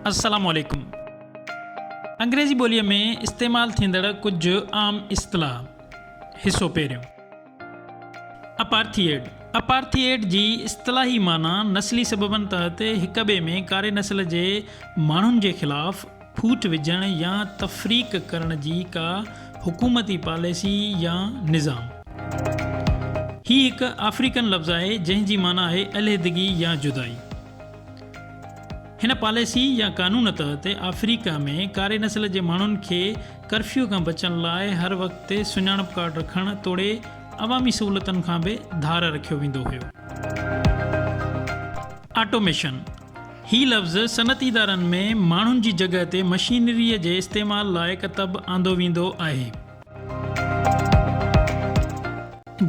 السلام عليڪم انگريزي ٻوليء ۾ استعمال ٿيندڙ ڪجهه عام اصطلاح حصو پهريون اپارٿيئيڊ اپارٿيئيڊ جي اصطلاحي معنيٰ نسلي سببن تحت هڪ ٻئي ۾ ڪاري نسل جي ماڻهن جي خلاف ڦوٽ وجهڻ يا تفريق ڪرڻ جي ڪا حڪومتي پاليسي يا نظام. هي هڪ آفريڪن لفظ آهي جنهن جي معنيٰ آهي علحدگي يا جدائي. هن پاليسي يا قانون تحت آفريڪا ۾ ڪاري نسل جي ماڻهن کي ڪرفيو کان بچڻ لاء هر وقت تي سڃاڻپ ڪارڊ رکڻ توڙي عوامي سهولتن کان به ڌار رکيو ويندو هيو. آٽوميشن، هي لفظ صنعتي ادارن ۾ ماڻهن جي جڳهه تي مشينريء جي استعمال لاء ڪتب آندو ويندو آهي.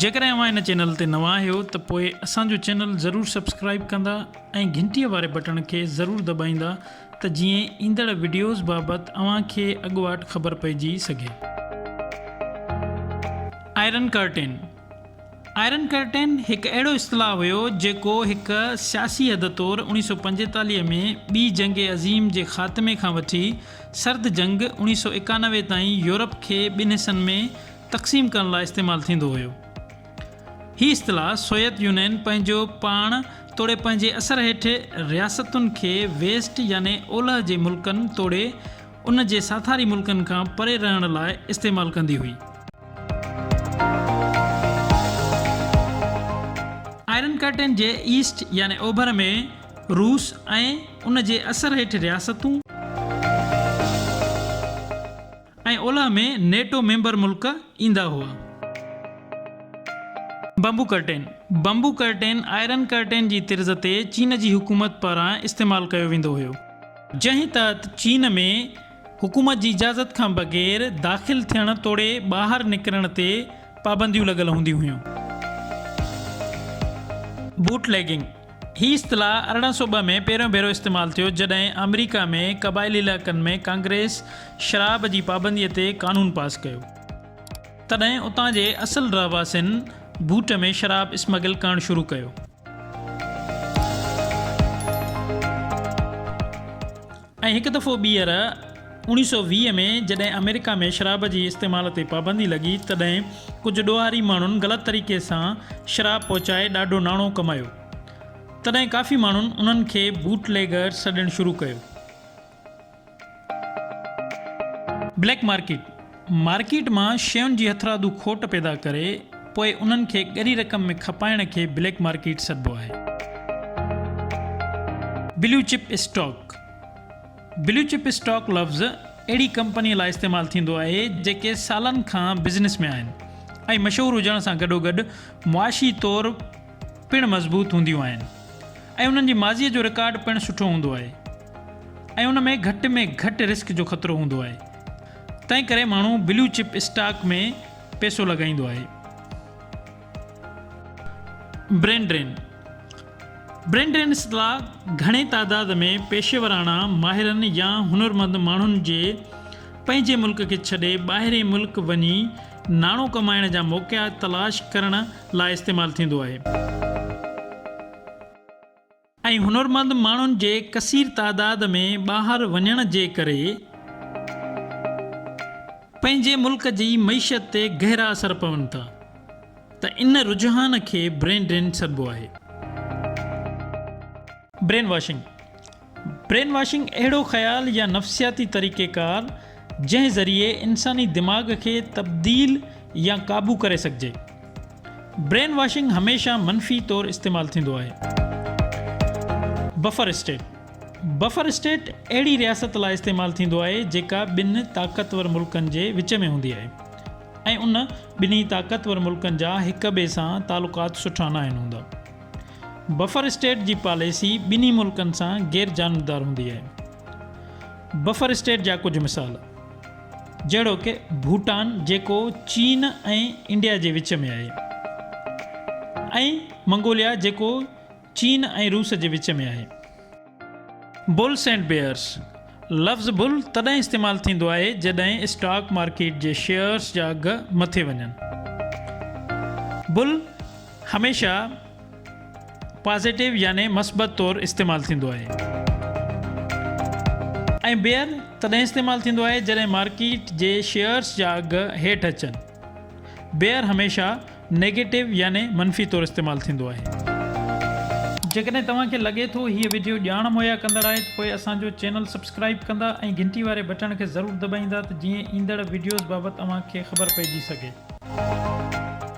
جيڪڏهن اوهان هن چينل تي نوان آهيو ته پوء اسان جو چينل ضرور سبسڪرائيب ڪندا ۽ گهنٽيء واري بٽڻ کي ضرور دٻائيندا ته جيئن ايندڙ وڊيوز بابت اوهان کي اڳواٽ خبر پئجي سگهي. آئرن ڪرٽين، آئرن ڪرٽين هڪ اهڙو اصطلاح هيو جيڪو هڪ سياسي حد طور اوڻيهه سؤ پنجيتاليهه ۾ ٻي جنگ عظيم جي خاتمي کان وٺي سرد جنگ اوڻيهه سؤ ايڪانوي تائين يورپ کي ٻن حصن ۾ تقسيم ڪرڻ لاء استعمال ٿيندو هيو. هي اصطلاح سويت يونين پنهنجو پاڻ توڙي پنهنجي اثر هيٺ رياستن کي ويسٽ يعني اولهه جي ملڪن توڙي ان جي ساٿاري ملڪن کان پري رهڻ لاء استعمال ڪندي هئي. آئرن ڪرٽين جي ايسٽ يعني اوڀر ۾ روس ۽ ان جي اثر هيٺ رياستون ۽ اولهه ۾ نيٽو ميمبر ملڪ ايندا هئا. Bamboo curtain, Bamboo Curtain، iron curtain جي طرز تي چين جي حڪومت پاران استعمال ڪيو ويندو هيو. جنهن تحت چين ۾ حڪومت جي اجازت کان بغير داخل ٿيڻ توڙي ٻاهر نڪرڻ تي پابنديون لڳل هونديون هيون. بوٽ ليگنگ، هي اصطلاح ارڙهن سؤ ٻه ۾ پهريون ڀيرو استعمال ٿيو جڏهن آمريڪا ۾ قبائلي علائقن ۾ ڪانگريس شراب جي پابندي تي قانون پاس ڪيو تڏهن اتان جي اصل رهواسين بوٽ ۾ شراب اسمگل ڪرڻ شروع ڪيو. ۽ هڪ دفعو ٻيهر اوڻيهه سؤ ويهه ۾ جڏهن آمريڪا ۾ شراب جي استعمال تي پابندي لڳي تڏهن ڪجهه ڏوهاري ماڻهن غلط طريقي سان شراب پهچائي ڏاڍو ناڻو ڪمايو تڏهن ڪافي ماڻهن انهن کي بوٽ ليگرز سڏڻ شروع ڪيو. بليڪ مارڪيٽ، مارڪيٽ مان شين جي هٿرادو کوٽ پيدا ڪري پوء انهن کي ڳري رقم ۾ کپائڻ کي بليڪ مارڪيٽ سڏبو آهي. Blue chip stock, blue chip stock لفظ اهڙي ڪمپني لاء استعمال ٿيندو آهي جيڪي سالن کان بزنس ۾ آهن ۽ مشهور هجڻ سان گڏوگڏ معاشي طور پڻ مضبوط هونديون آهن ۽ انهن جي ماضيء جو رڪارڊ پڻ سٺو هوندو آهي ۽ ان ۾ گهٽ ۾ گهٽ رسڪ جو خطرو هوندو آهي تنهن ڪري ماڻهو بلو چپ اسٽاڪ ۾ پيسو لڳائيندو آهي. برين ڊرين، Brain Drain، اصطلاح گهڻي تعداد ۾ پيشيوراڻا ماهرن يا هنرمند ماڻهن جي پنهنجي ملڪ کي ڇڏي ٻاهرين ملڪ وڃي ناڻو ڪمائڻ جا موقعا تلاش ڪرڻ لاء استعمال ٿيندو آهي. ۽ هنرمند ماڻهن جي ڪثير تعداد ۾ ٻاهر وڃڻ جي ڪري پنهنجي ملڪ جي معيشت تي گهرا اثر پون ٿا ته ان رجحان کي برين ڊرين سڏبو آهي. برين واشنگ، برين واشنگ اهڙو خيال يا نفسياتي طريقه ڪار جنهن ذريعي انساني دماغ کي تبديل يا قابو ڪري سگهجي. برين واشنگ هميشه منفي طور استعمال ٿيندو آهي. بفر اسٽيٽ، بفر اسٽيٽ اهڙي رياست لاء استعمال ٿيندو آهي جيڪا ٻن طاقتور ملڪن جي وچ ۾ هوندي آهي ۽ ان ٻنهي طاقتور ملڪن جا هڪ ٻئي سان تعلقات سٺا ناهن هوندا. بفر اسٽيٽ جي پاليسي ٻنهي ملڪن سان غير جانبدار هوندي آهي. بفر اسٽيٽ جا ڪجهه مثال جهڙوڪ ڀوٽان جيڪو چين ۽ انڊيا جي وچ ۾ آهي ۽ منگوليا جيڪو چين ۽ روس جي وچ ۾ آهي. بلس اينڊ بيئرس، لفظ بل تڏهن استعمال ٿيندو آهي جڏهن اسٽاڪ مارڪيٽ جي شيئرس جا اگهه مٿي وڃن. بل هميشه پازيٽو يعني مثبت طور استعمال ٿيندو آهي ۽ بيئر تڏهن استعمال ٿيندو آهي جڏهن مارڪيٽ جي شيئرس جا اگهه هيٺ اچن. بيئر هميشه نيگيٽو يعني منفي طور استعمال ٿيندو آهي. جيڪڏهن توهان کي لڳي ٿو هيء وڊيو ڄاڻ مهيا ڪندڙ آهي ته پوء اسان جو چينل سبسڪرائيب ڪندا ۽ گهنٽي واري بٽڻ کي ضرور دٻائيندا ته جيئن ايندڙ وڊيوز بابت اوهان کي خبر پئجي سگهي.